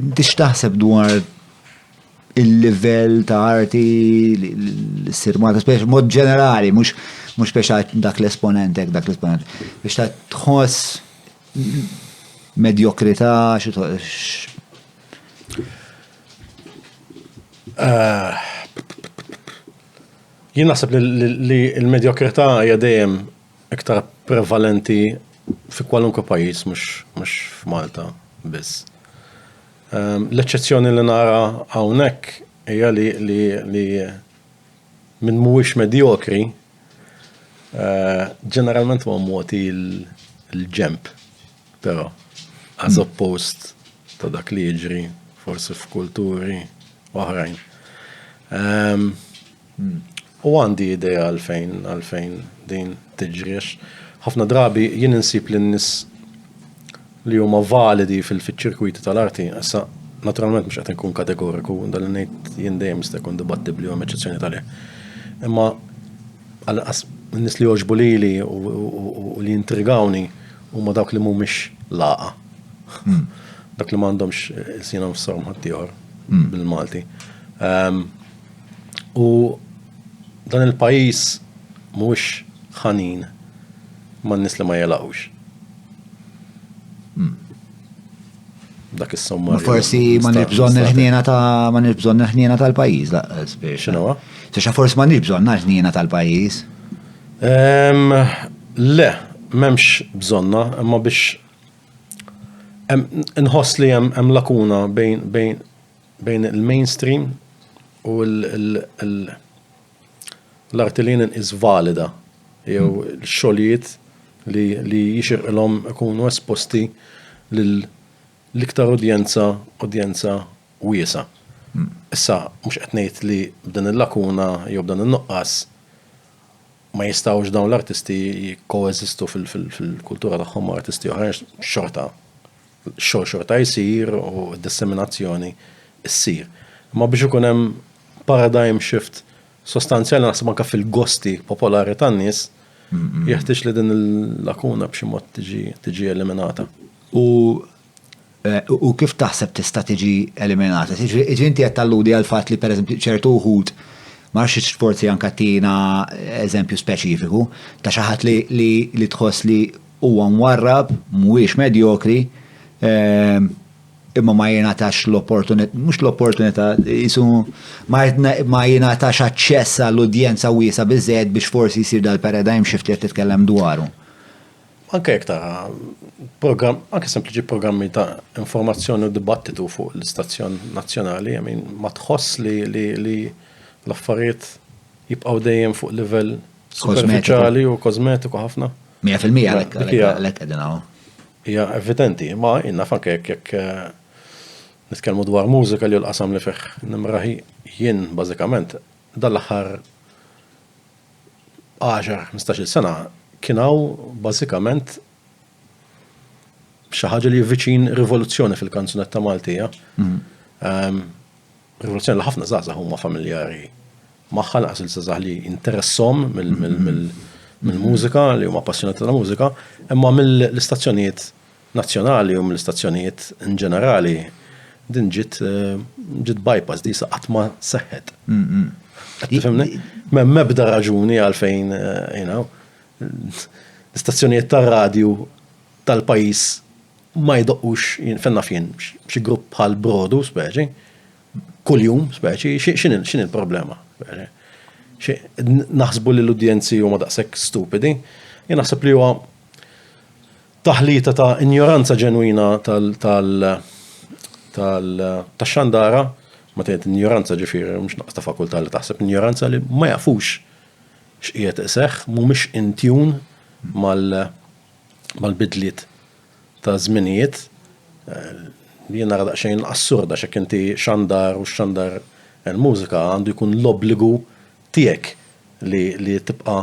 Dix taħseb dwar il-livell ta' arti l-sir Malta, speċi mod ġenerali, mux mux speċa dak l-esponentek, dak l-esponent. Biex ta' tħoss medjokrita, ah. Jien naħseb li l-medjokrita hija dejjem iktar prevalenti fi kwalunkwe pajjiż mhux f'Malta biss. Ehm, l-eċċezzjoni li nara hawnhekk hija li li li minn mhuwiex medjokri eh, ġeneralment ma moti l-ġemp, però as hmm. oppost ta' dak li jiġri forsi f'kulturi oħrajn. Ehm, U għandi idea għalfejn għalfejn din tiġriex. Ħafna drabi jien insib li n-nies li huma validi fil-ċirkwiti tal-arti, issa naturalment mhux qed inkun kategoriku, dan li ngħid jien dejjem jista' jkun dibattibbli u hemm eċċezzjoni tal Imma għal n-nies li jogħġbu lili u li jintrigawni huma dawk li mhumiex laqa. Hmm. Dak li m'għandhomx eh, sinhom f'sorm ħaddieħor hmm. bil-Malti. Ehm, U dan il-pajjiż mhuwiex ħanin man-nies li ma jelgħux. Hmm. Dak is-somma. Forsi ma nix bżonn il-ħniena ta' ma nix bżonn il-ħniena tal-pajjiż laqqas biex. X'inhuwa? Tixa forsi ma nix bżonn il-ħniena tal-pajjiż. Le, m'hemmx bżonna, imma biex nħoss li hemm lakuna bejn bejn il-mainstream u l-arti li jien inqis valida jew xogħlijiet li jixirqilhom ikunu esposti lil l-iktar udjenza udjenza wiesgħa. Issa mhux qed ngħid li b'din il-lakuna jew b'dan in-nuqqas ma jistgħux dawn l-artisti jikkoeżistu fil-kultura tagħhom ma' artisti oħra għax xorta Ix-xogħol xorta jsir u d-disseminazzjoni ssir. Imma biex ikun hemm paradigm shift sostanzjali naħseb anke fil-gosti popolari tan-nies, jeħtieġ li din il-lakuna b'xi mod tiġi eliminata. U u kif taħseb tista' tiġi eliminata? Jiġifieri inti qed talludi għal fatt li pereżempju ċertu wħud ma nafx forsi anke tina eżempju speċifiku ta' xi ħadd li tħoss li Huwa mwarrab, mhuwiex medjokri, imma ma jingħatax l-opportunità, mhux l-opportunità, jisu ma jingħatax aċċess għal udjenza wiesa' biżżejjed biex forsi jsir dal-paradigm shift li qed titkellem dwaru. Anke jekk tara programm, anke sempliċi programmi ta' informazzjoni u dibattitu fuq l-istazzjon nazzjonali, I mean, ma tħoss li l-affarijiet jibqgħu dejjem fuq livell superfiċjali u kożmetiku ħafna? Mija fil-mija għalek għalek għedin għaw. Ija evidenti, ma jina fanke jek eh, nitkelmu dwar mużika li l-qasam li fih nimraħi jien bażikament dal-aħħar 10-15 sena kien hawn bażikament xi ħaġa li viċin rivoluzzjoni fil-kanzunetta Maltija. Mhm. Ehm, Rivoluzzjoni li ħafna żgħażagħ huma familjari magħha naqas il-żgħażagħ li interessom mill-mużika li huma appassjonati tal-mużika, imma mill-istazzjonijiet nazzjonali u mill-istazzjonijiet in ġenerali din ġiet ġiet bypass di sa qatt ma seħħet. M'hemm mebda raġuni għalfejn l-istazzjonijiet tar-radju tal-pajjiż ma jdoqqux, fejn naf jien, xi grupp bħal Brodu, speċi, kuljum, speċi, x'inhi l-problema? Naħsbu li l-udjenzi huma daqshekk stupidi, jien naħseb li huwa taħlita ta' injoranza ġenwina tax-xandara, meta ngħid injoranza ġifieri mhux nuqqas ta' fakultà li taħseb, injoranza li ma jafux x'qiegħed iseħħ, mhumiex in tune mal- mal-bidliet ta' żminijiet li jien nara daqsxejn assurda x'hekk inti xandar u x-xandar il-mużika għandu jkun l-obbligu tiegħek li li tibqa'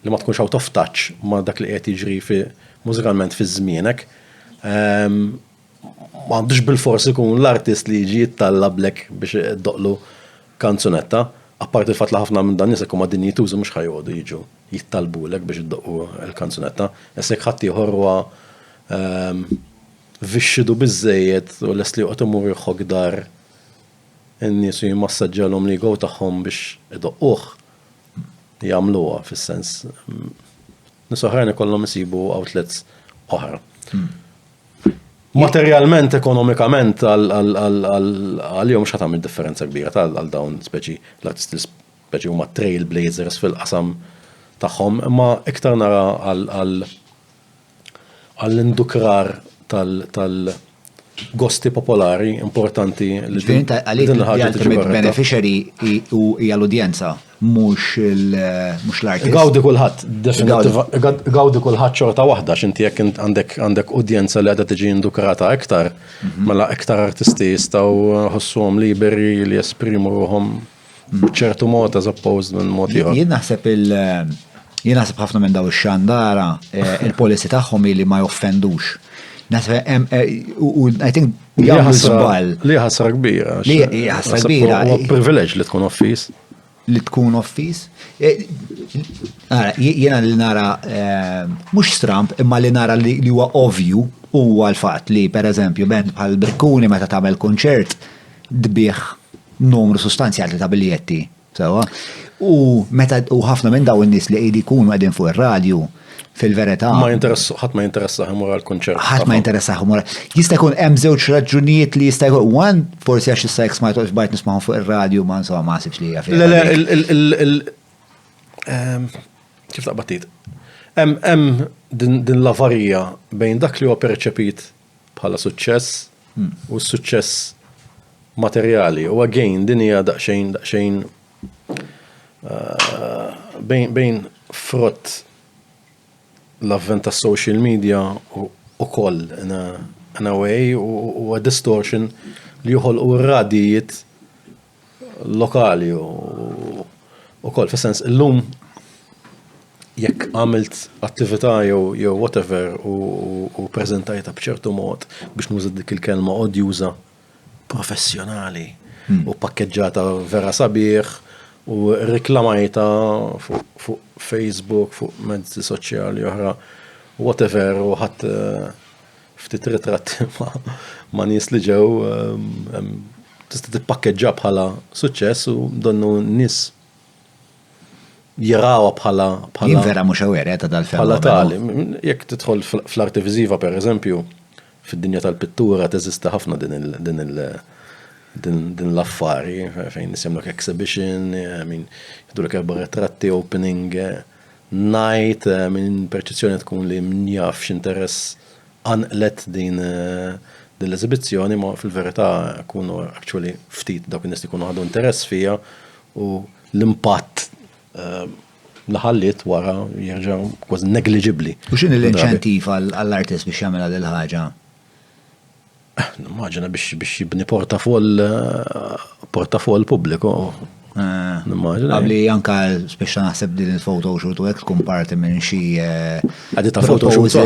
li ma tkunx out of touch ma' dak li qed jiġri fi mużikalment fi żmienek. M'għandux bil-fors ikun l-artist li jiġi jittallablek biex doqlu kanzunetta, apparti l-fatt li ħafna minn dan nies huma dinjitużi mhux ħajqogħdu jiġu jittalbulek biex iddoqqu l-kanzunetta, issa jekk ħaddieħor huwa ehm, vixxidu biżżejjed u lest li joqgħod imur jħokk dar in-nies u jimmassaġġalhom l-ego tagħhom biex idoqquh, jagħmluha fis-sens Nies oħrajn ikollhom isibu outlets oħra. Hmm. Materjalment, ekonomikament, għal-jom xatam il-differenza kbira għal dawn speċi, l-artisti speċi huma trailblazers fil-qasam tagħhom, imma iktar nara għal-indukrar tal- gosti popolari importanti li din ħaġa tiġi beneficiary hija l-udjenza, mhux l-artist. Gawdi kulħadd, gawdi kulħadd xorta waħda, x'inti jekk għandek udjenza li għadha tiġi indukrata iktar, mhm. mela iktar artisti jistgħu ħossuhom liberi li jesprimu ruhom b'ċertu mod as opposed minn mod ieħor. Jien naħseb il- jien naħseb ħafna minn daw ix-xandara eh, il-policy tagħhom li ma joffendux. Naħseb hemm eh, u I think jagħmlu żball. Li ħasra kbira. Li ħasra kbira. Huwa privileġġ li tkun offis. Li tkun offis. Eh, jiena li nara mhux stramp imma li nara li huwa ovju huwa l-fatt li pereżempju band bħal Brikkuni meta tagħmel kunċert tbigħ numru sustanzjali ta' biljetti, sewwa. U meta u ħafna minn daw in-nies li qegħdi jkunu qegħdin fuq ir-radju fil-verità. Ma jinteress, ħadd ma jinteressa ħimur għal kunċert. Ħadd ma jinteressa ħimur. Jista' jkun hemm żewġ raġunijiet li jista' jkun wan, forsi għax issa jekk smajtu għax bajt nismagħhom fuq ir-radju ma insomma ma sibx li hija fil. Le le il ehm, kif taqbad Hemm din l-avarija bejn dak li huwa perċepit bħala suċċess u s-suċċess materjali u again din hija daqsxejn daqsxejn eh, bejn bejn frott l-avvent tas social media u koll in a way u a distortion li joħolqu r-radijiet lokali u ukoll fis-sens illum jekk għamilt attività jew jew whatever u, u preżentajta b'ċertu mod biex nuża dik il-kelma odjuża professjonali hmm. u pakkeġġata vera sabiħ u reklamajta fuq fu Facebook, fuq mezzi soċjali oħra, whatever, u ħadd eh, Ftit ritratti ma' nies li ġew tista' tippakkeġġa bħala suċċess u donnu nies jirawha bħala bħala. Jien vera mhux aware eh, ta' dal-fenomenu. Bħala tali, jekk tidħol fl-arti viżiva pereżempju, fid-dinja tal-pittura teżisti ħafna din il- din il- din l-affari fejn nisimlek exhibition, min jidulek erba' ritratti opening. Eh, Ngħid minn perċezzjoni tkun li min jaf x'interess qanqlet din din l-eżibizzjoni imma fil-verità jkunu actually ftit dawk in-nies li jkunu ħadu interess fiha u l-impatt li ħalliet wara jerġa' kważi negliġibbli. U x'inhi l-inċentiv għall-artist biex jagħmilha dil-ħaġa? Nimmaġina biex jibni portafoll portafoll pubbliku. Eh, nimmaġina. Għabli anka speċa naħseb din il-foto shoot u għek tkun parti minn xi. Eh, Għaddi ta' foto shoot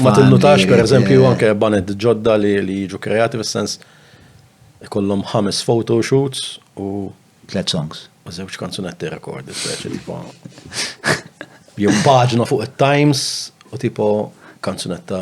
ma tinnutax per eżempju anke banet ġodda li jiġu kreati fis-sens kollom ħames foto shoots u. Tlet songs. U zewċ kanzunetti rekordi, speċi tipo. Jum paġna fuq il-Times u tipo kanzunetta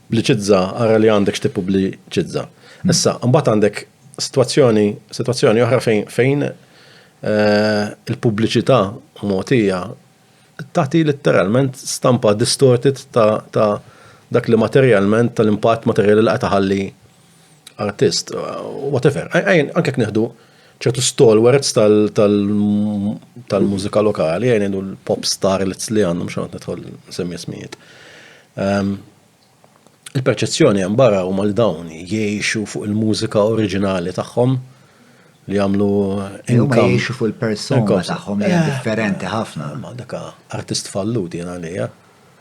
pubbliċizza, ara li għandek x'tippubbliċizza. Issa, mbagħad għandek sitwazzjoni sitwazzjoni oħra fejn fejn eh, il-pubbliċità mogħtija tagħti letteralment stampa distorted ta', ta dak li materjalment tal-impatt materjali li qed iħalli artist, whatever. Anke neħdu ċertu stalwarts tal-mużika lokali, għajn l-pop star li għandhom xanat nitħol semmi smijiet. Ehm, il-perċezzjoni għan barra u mal dawn jiexu fuq il-mużika oriġinali tagħhom li għamlu income. Jiexu fuq il-persona tagħhom li eh, differenti ħafna. Ma daka artist falluti għan għalija.